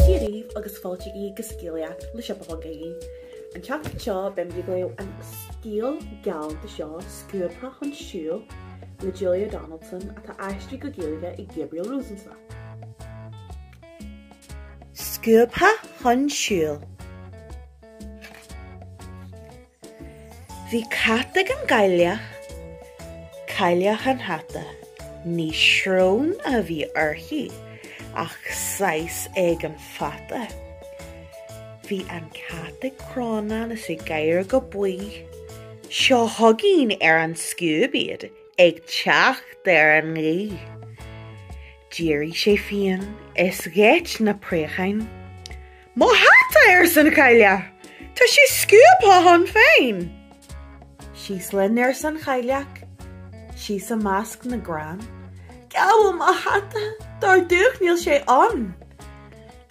Dia daoibh agus fáilte go Scéalaíocht le Siopa.ie. An tseachtain seo beimid ag léamh an scéal galánta seo Scuabtha chun Siúil le Julia Donaldson atá aistrithe go Gaeilge ag Gabriel Rosenstock. Scuabtha chun Siúil. Bhí cat ag an gcailleach, Cailleach an Hata. Ní srón a bhí uirthi ach saghas éigin fata. Bhí an cat ag crónán is ag gáire go baoth. Seo chugainn ar an scuab iad ag teacht ar an ngaoth. D'éirigh sé fiáin is gheit na préacháin. Mo hata arsa an chailleach! Tá sé scuabtha chun fáin! Síos linn arsa an chailleach, síos i measc na gcrann. Cá bhfuil mo hata, dar Duach níl sé ann!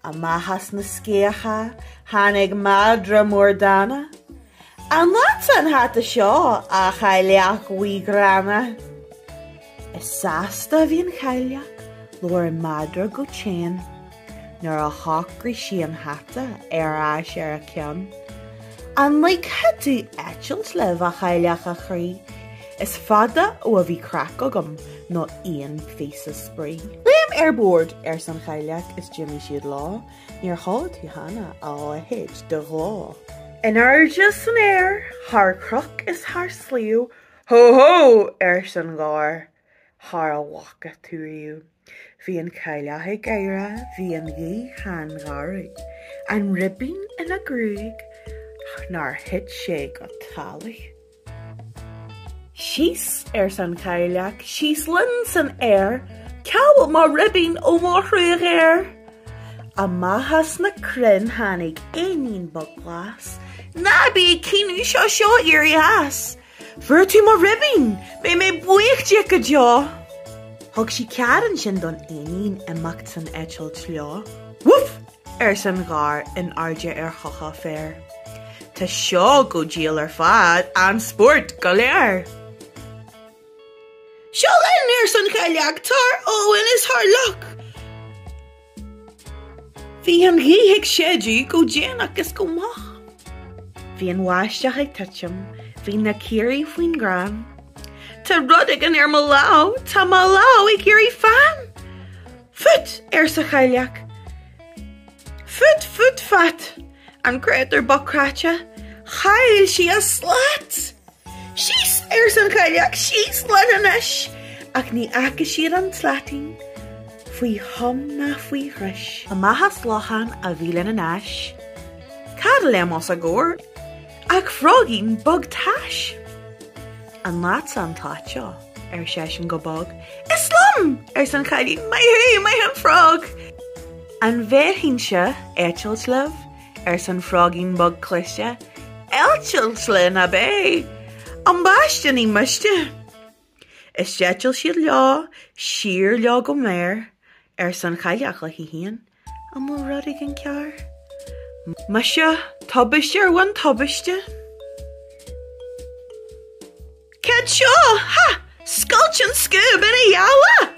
Amach as na sceacha, tháinig madra mór dána. An leatsa an hata seo, a Chailleach Bhuí Ghránna? Is sásta a bhí an chailleach labhair an madra go teann nuair a shocraigh sí an hata ar ais ar a ceann. An ligfeá dom eitilt libh, a chailleach, a chroí, is fada ó a bhí craic agam nó aon phíosa spraoi. Léim ar bord, arsa an chailleach is d'imigh siad leo. Níor chuala tú cheana, a leithéid de ghleo. In airde san aer, thar chnoc is thar sliabh, Hó hó! arsa an gadhar, thar a bhfaca tú riamh. Bhí an chailleach ag gáire, bhí an ghaoth an-gharbh, an ribín ina gruaig nár thit sé go talamh. Síos, arsa an chailleach, síos linn san aer, cá bhfuil mo ribín ó mo thrua ghéar! Amach as na crainn tháinig éinín beag glas, ná bí ag caoineadh, seo, seo, éirigh as! Fuair tú mo ribín! Beidh mé buíoch díot go deo! Thug sí cead ansin don éinín imeacht san eitilt leo. Woof! arsa an gadhar in airde ar choca féir. Tá seo go diail ar fad, an-spórt go léir! Seo linn! arsa an chailleach, thar abhainn is thar loch! Bhí an ghaoth ag séideadh go déanach is go moch. Bhí an bháisteach ag titim, bhí na caoirigh faoin gcrann. Tá rud éigin ar mo lámh, tá mo lámh ag éirí fann. Fút! arsa an chailleach. Fút, fút, fat! An créatúr bocht cráite, chaill sí a slat! Síos! arsa an chailleach, síos linn anois! Ach ní fhaca siad an tslaitín faoi thom ná faoi dhris. Amach as lochán a bhí lena n-ais, cad a léim os a gcomhair ach froigín bog tais. An leatsa an tslat seo? ar seisean go bog. Is liom! arsa an chailleach, Maith thú, maith an frog! An bhféadfainnse eitilt libh? arsa an froigín beag cliste, eitilt linn ab é ambaiste ní miste. Is d'eitil siad leo siar leo go mear, arsa an chailleach léi féin, an bhfuil rud éigin cearr? Muise tubaiste ar mhuin tubaiste. Cad seo? Ha! Scoilt an scuab ina dhá leath!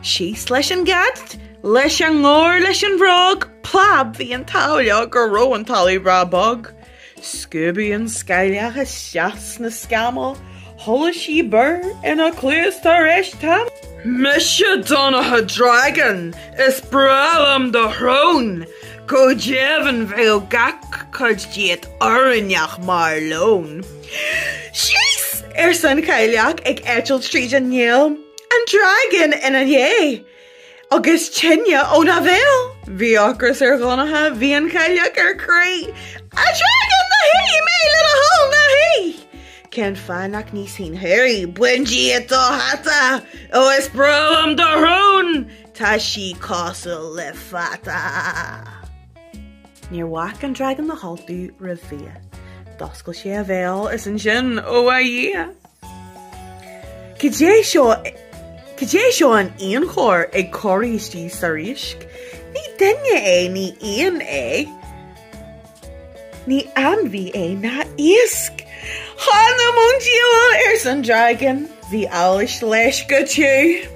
Síos leis an gcat, leis an ngadhar, leis an bhfrog, plab, bhí an t-ádh leo go raibh an talamh breá bog. Scuabadh an chailleach isteach sna scamaill, chuala sí búir ina cluas tar éis tamaill. Mise Donncha Dragan, is breá liom do shrón, go deimhin bheadh gach cuid díot oiriúnach mar lón. 'Síos! arsa an Chailleach ag eitilt tríd an néal. 'An dragan ina dhiaidh! Agus tine óna bhéal! Bhí ocras ar Dhonncha, bhí an Chailleach ar crith. 'A dhragain ná hith mé le do thoil ná hith! Cén fáth nach n-íosfainn thú, a chroí? Bain díot do hata! Ó is breá liom do shrón! Tá sí cosúil le fata! Níor bhac an dragan le haltú roimh bhia. D'oscail sé a bhéal is ansin, ó a Dhia! Cad é seo in aon chor ag corraí istigh sa riasc? Ní duine é, ní éan é, ní ainmhí é ná iasc. Th'anam 'on diabhal! arsa an dragan. Bhí allas leis go tiubh.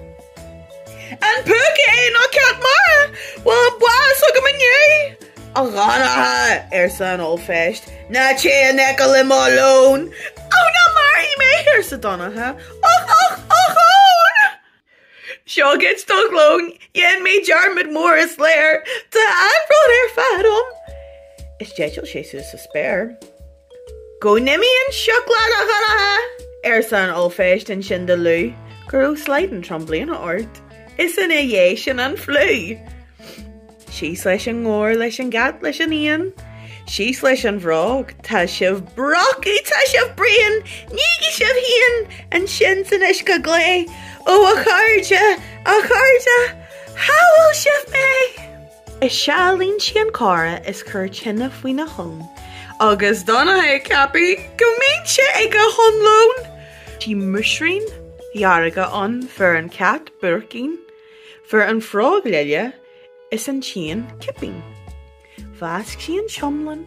An púca é nó cat mara? An bhfuil bás chugam inniu! A Dhonncha, arsa an Ollphéist, ná téigh in aice le mo lón! Ó, ná maraigh mé! arsa Donncha. Ochón! Seo dhuit do lón! Dhein mé dearmad mór is léir! Tá an-bhród ar fad agam! Is d'eitil sé suas sa spéir. Go n-imí an sioc leat, a Dhonncha! arsa an ollphéist ansin de liú go raibh slaghdán trom bliana ort, is ina dhiaidh sin an fliú! Síos leis an ngadhar, leis an gcat, leis an éan, síos leis an bhfrog, tá sibh brocach, tá sibh bréan, nígí sibh féin ansin san uisce glé! Ó a chairde, a chairde, shábháil sibh mé! Is ea a lean sí an coire is chuir tine faoina thóin agus d'fhan a haghaidh ceaptha go mbíonn sé ag a shon lóin. Bhí muisiriúin dhearga ann, fuair an cat buaircín, fuair an frog lile is an t-éan cipín. Mheasc sí an t-iomlán.